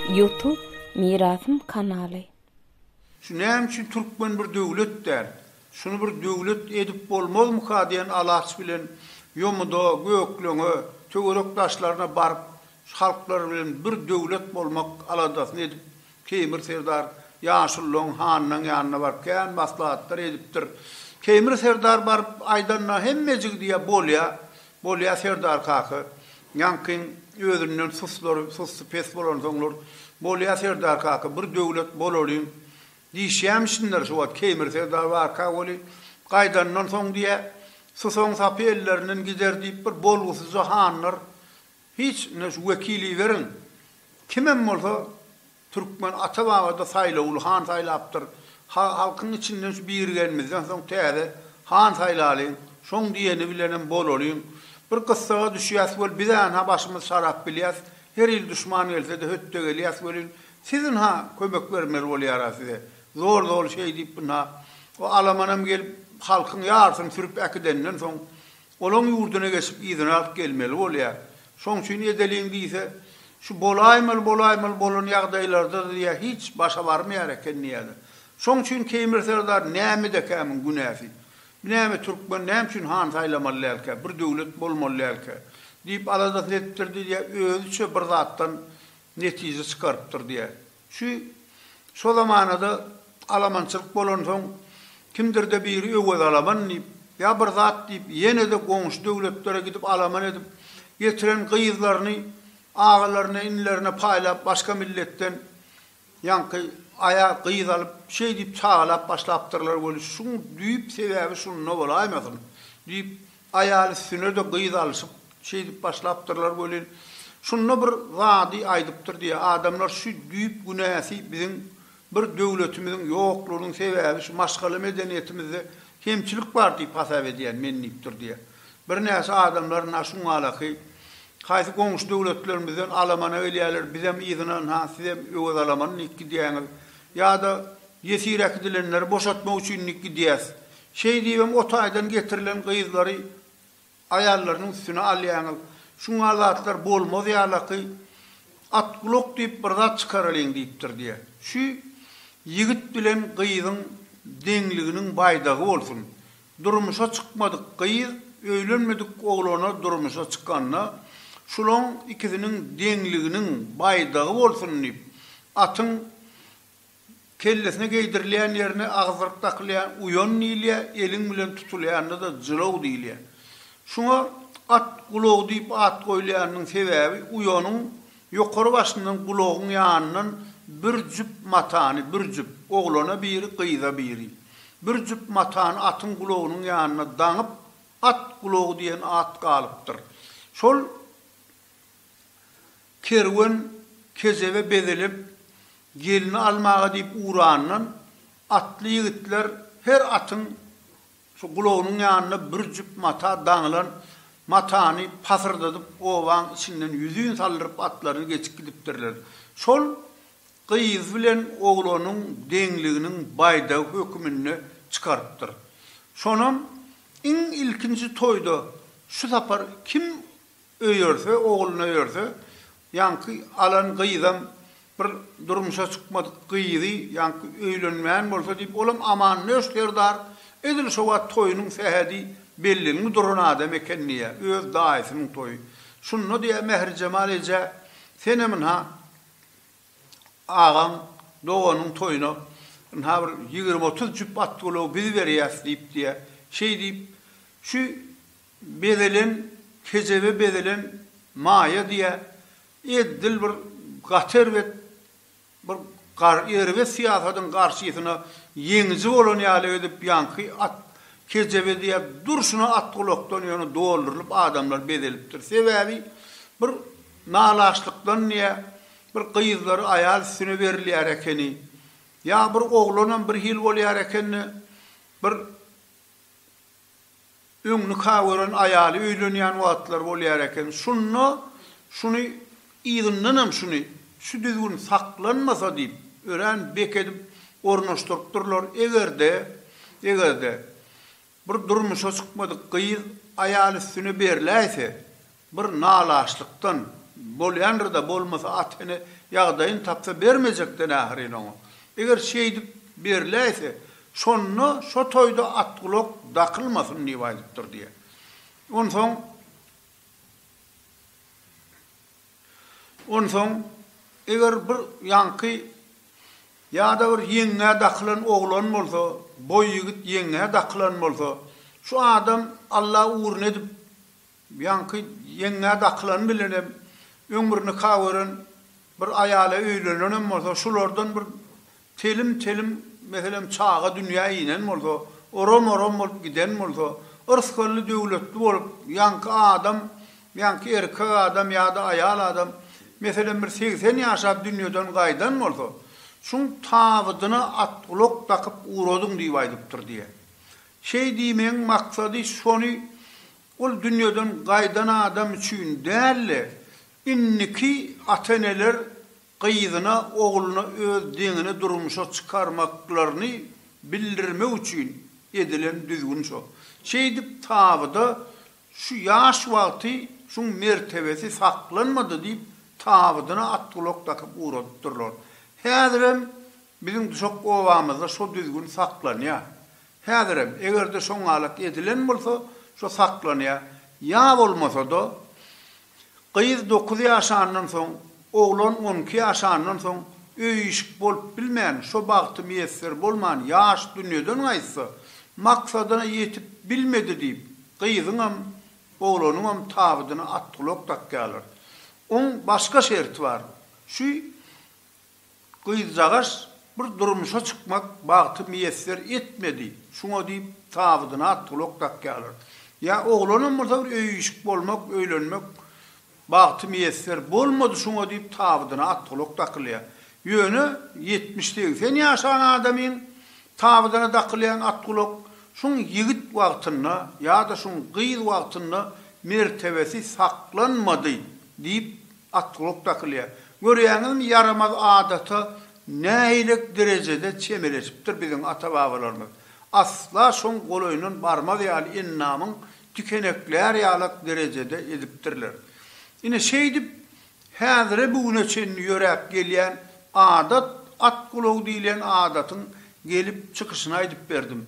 Youtube mirasym kanaly. Şu näme üçin türkmen bir döwlet däl? Şuny bir döwlet edip bolmazmyka diýen alaç bilen ýomuda, gökleňe, töwerek daşlaryna baryp şu halklar bilen bir döwlet bolmak aladasyny edip Keýmir serdar ýaşulularyň hanynyň ýanyna baryp kän maslahatlar edipdir. Keýmir serdar baryp aýdanyna hemmejigi diýýär, Bolýa, bolýa serdar kaka. Ýaňkyň özünden suslary, sussy pes bolansoňlar, Bolýa serdar kaka, bir döwlet bolalyň diýişýämişinler. Şu wagt Keýmir serdar barka weli, gaýdandan soň diýýär, Susagyň sapy ellerinden gider diýip bir bolgusyzja hanlar Hiç indi şu wekili beriň. Kimem bolsa türkmen ata babada saýlawly han saýlapdyr. Halkyň içinden şu birigenmizden soň täze han saýlalyň. Şoň diýeni bilenem bolalyň. Bir gyssaga düşýäs weli biz änha başymyz şarap bilýäs. Her il duşman gelsede hötde gelýäs welin siz ynha kömek bermeli bolýara size. Zor zor şeý diýip ynha o alamanam gelip halkyň ýarysyny sürüp äkidenden soň Olaň ýurduna geçip yzyny alyp gelmeli bolýar. Şoň üçin edeliň diýse, şu bolaýmaly bolaýmaly bolan ýagdaýlarda diýýär hiç başa barmaýar eken diýýärler. Şoň üçin Keýmir serdar nämedekä muň günäsi? Binäme türkmen näme üçin han saýlamaly dälkä, bir döwlet bolmaly dälkä? diýip aladasyny edipdir diýýär, özüçe bir zatdan netije çykarypdyr diýýär. Şu şo zamanada alamançylyk bolansoň, kimdir-de biri Öwez alaman diýip, ýa bir zat diýip, ýene-de goňşy döwletlere gidip alaman edip, getiren gyzlaryny agalaryna, inilerine paýlap, başga milletden ýaňky aýa gyz alyp, şeý diýip çagalap başlapdyrlar weli, şuň düýp sebäbi şunda bolaýmasyn? diýip, Aýal üstüne-de gyz alşyp, şeýdip başlapdyrlar welin, şunda bir zady aýdypdyr diýýär, Adamlar şu düýp günäsi biziň bir döwletimiziň ýoklugynyň sebäbi şu maşgala medeniýetimizde kemçilik bar diýip hasap edýän men diýipdir diýýär. Birnäçe adamlar na şuňalaky haýsy goňşy döwletlerimizden alamana gelýärler, bizem yzyna ynha sizem öwez alaman diýip gidýäňiz. Ýa-da ýesir äkidilenleri boşatmak üçin diýip gidýäs. Şeý diýibem o taýdan getirilen gyzlary aýallarynyň üstüne alýaňyz. Şuňa zatlar bolmaz ýalaky. Atgulak diýip bir zat çykaralyň diýipdir diýe. Şu ýigit bilen gyzyň deňliginiň baýdagy bolsun. Durmuşa çykmadyk gyz öýlenmedik oglana durmuşa çykanda şulaň ikisiniň deňliginiň baýdagy bolsun diýip atyň Kellesine geýdirilýän ýerine agzdyryp dakylýan uýan diýilýär, eliň bilen tutulýanyna-da jylaw diýilýär. Şuňa at gulagy diýip at goýulýanynyň sebäbi uýanyň ýokary başyndan gulagyň ýanyndan bir jüp matany, bir jüp, oglana biri, gyza biri, bir jüp matany atyň gulagynyň ýanyna daňyp, at gulagy diýen at galypdyr. Şol. Kerwen kejebe bezelip, gelni almaga diýip ugrandan, atly ýigitler her atyň şu gulagynyň ýanynda bir jüp mata daňylan matany pasyrdadyp obaň içinden ýüzin saldyryp atlaryny geçip gidipdirler. Şol gyz bilen oglanyň deňliginiň baýdagy höküminde çykarypdyr. Şonam iň ilkinji toýda şu sapar kim Öýerse, ogluna öýerse, ýaňky alan gyzam bir durmuşa çykmadyk gyzy, ýaňky öýlenmän bolsa diýip, olam Amannöş serdar edil şo wagt toýunyň sähedi bellenli duran adam eken diýýä, öz daýysynyň toýy. Şunda diýýä Mährijemal eje, Senem ynha agaň, doganyň toýuna ynha bir ýigrimi-otuz jüp at-gulagy biz berýäs diýip diýýä. Şeý diýip, şu bezelen, kejebe bezelen maýa diýä, edil bir gaty erbet, bir gar erbet syýasatyň garşysyna ýeňiji bolan ýaly edip ýaňky at kejebe diýä durşuna at gulakdan ýöne doldurylyp adamlar bezelipdir. Sebäbi bir nalaşlykdan diýä bir gyzlary aýal üstüne berilýär ekeni. Ýa bir oglanam bir hil bolýar ekende bir Öň nika gören aýaly öýlenýän wagtlary bolýar eken. Şunda şuny yzyndanam şuny, şu düzgün saklanmasa diýip, örän bek edip ornaşdyrypdyrlar. Eger-de, eger-de, bir durmuşa çykmadyk gyz aýal üstüne berläýse, Bir nalaşlykdan bolýandyr-da, bolmasa at-ene ýagdaýyny tapsa bermejekden ahyryn oňa. Eger şeýdip berläýse, şonda şo toýda atgulak dakylmasyn diýip aýdypdyr diýýär. Onsoň, onsoň eger bir ýaňky ýa-da bir ýeňňä dakylan oglan bolsa, boý ýigit ýeňňä dakylan bolsa, şu adam Alla ugruna edip Ýaňky ýeňňä dakylan bilenem öňňür nika gören bir aýala öýlenenem bolsa, şulardan bir telim-telim, meselem, çaga dünýä inen bolsa, oram-oram bolup giden bolsa, yrsgally-döwletli bolup, ýaňky adam, ýaňky erkek adam ýa-da aýal adam, meselem, bir segsen ýaşap dünýeden gaýdan bolsa, şuň tabydyna at-gulak dakyp ugradyň diýip aýdypdyr diýýär. Şeý diýmegiň maksady şony Ol dünýeden gaýdan adam üçin däl-de, indiki ata-eneler gyzyna, ogluna öz deňini durmuşa çykarmaklaryny bildirmek üçin edilen düzgün şo. Şeýdip, tabyda şu ýaş wagty şuň mertebesi saklanmady diýip, tabydyna at-gulak dakyp ugradypdyrlar. Häzirem biziň Duşak obamyzda şo düzgün saklanýar. Häzirem, eger-de şo galat edilen bolsa, şo saklanýar. Ýa bolmasa-da, gyz dokuz ýaşandan soň, oglan on iki ýaşandan soň, öý-işik bolup bilmän, şo bagty miýesser bolman, ýaş dünýeden gaýtsa, maksadyna ýetip bilmedi diýip, gyzyňam, oglanyňam tabydyna at-gulak dakýarlar. Oň başga şerti bar. Şu. Gyzjagaş bir durmuşa çykmak bagty miýesser etmedi, şuňa diýip tabydyna at-gulak dakýarlar. Ýa oglanam bolsa bir öýi-işik bolmak, öýlenmek bagty miýesser bolmady, şuňa diýip tabydyna at-gulak dakylýar. Ýöne ýetmiş-segsen ýaşan adamyň tabydyna dakylýan at-gulak şuň ýigit wagtynda ýa-da şuň gyz wagtynda mertebesi saklanmady diýip Atgulak dakylýar. Görýäňizmi, ýaramaz adata nähilek derejede çemeleşipdir biziň ata-babalarymyz. Asla şoň golaýyndan barmaz ýaly endamyň tikeneklär ýalak derejede edipdirler. Ine, şeýdip, häzire-bugüne çenli ýöräp gelýän adat, at gulagy diýilýän adatyň gelip çykyşyny aýdyp berdim.